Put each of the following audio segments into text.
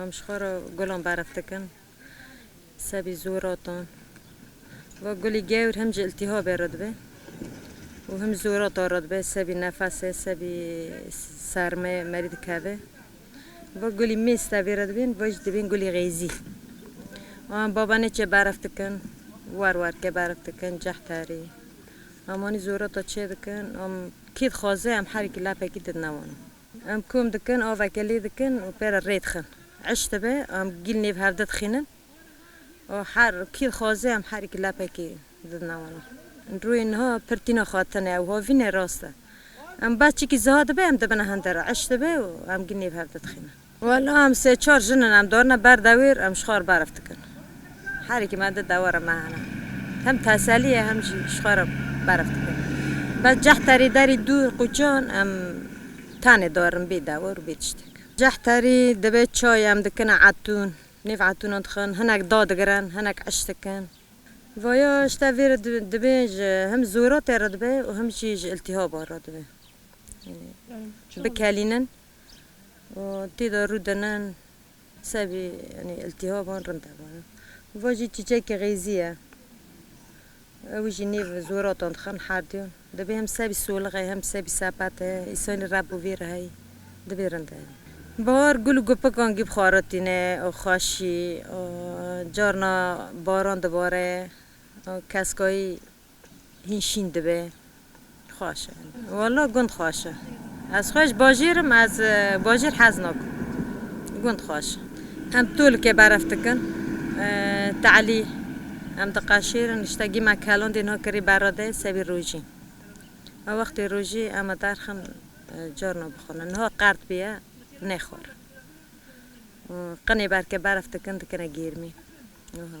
Em ji xwe re gulan berf dikin, sebî zû rotan. Wek gulî gewr him ji îltîhabê rûdibe û him zû rota rûdibe, sebî nefesê, sebî sermê merî dikeve. Wek gulî mîz tevî rûdibîn, wê jî dibîn gulî xêzî. Û em babanêçê berf dikin, wer werkê berf dikin, cehterî. Em anî zû rota çêdikin, em kî dixwaze em herî kî lepekî didnewanin. Em kom dikin, aveke lê dikin û pê re rê dixin. Eşt dibe em gîl nêv hev didixînin û her kî dixwaze em herî ki lepekê didin wan wan. Rûyê niha pir tîna xwatin e û hovînê rast e. Em behçîkî ziha dibe em dibine hende re. Eşt dibe û em gîl nêv hev didixînin. Wela em sê çar jin in em darine ber dewêr em ji xwe re berf dikin. Herikî me di dewera me hene. Hem teselî ye hem jî ji xwe re berf dike. Bes cehterî derî dûr qûçan em tenê darin bê dewar û bê tiştek. Cehterî dibe çay em dikin a etûn. Nêv etûnan dixin, hinek da digirin, hinek eş dikin. Vaya ji te vê re dibe ji hem zoratê re dibe û hem jî ji îltîhaban re dibe. Yanî bikelînin û tê de rûdinin. Sebî yanî îltîhaban rind e banan. Va jî çîçekê xêzî ye. Ew jî nêv zoratan dixin herdûn. Divê hem sebî solixê hem sebî sepetê. Îsanî reb û vîr heyî. Divê rind e yanî. Bahar gul û gupikan gîb xwaritîne û xweşî. Carna baran dibare. Keskayî Hîn şîn dibe. Xweş e. Walla gund xweş e. Ez xwe ji bajêr im, ez bajêr hez nakim. Gund xweş e. Em tolike berev dikin. Te'lî em diqeşêrin, tiştekî me kelandê niha kirî berra de sewî rojî. Me wextê rojî em a derxin carna bixwînin. Niha qert bûye nêxwarin. Qinê berke berev dikin, dikine gêrmî. Wiha.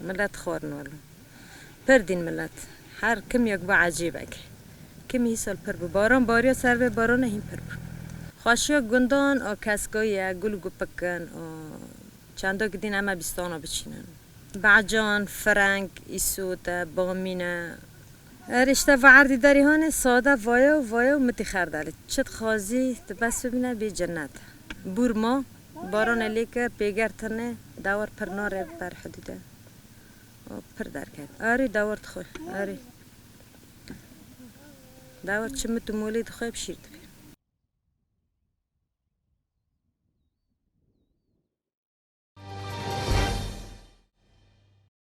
Milet xor in welo. Pir dîn milet. Her kim yek bû ecêbek. Kim hî sal pir bû. Baran bariya ser vê barana hîn pir bû. Xweşiya gundan a keska ye gul gupik in û çanda ki dîn eme bîstana biçînin. Becan, fireng, îsote, bamîne. Her îşte va erdî derî hanê sade vaye û vaye û mitî xerdalî. Çi dixwazî ti bes bibîne bî cinnet. Bûr ma. Barone lê ke pêger tine dawar pir nare ber hidûde û pir derket. Arî dawar dixwe, arî. Dawar çi mit û molê dixwe bi şîr dike.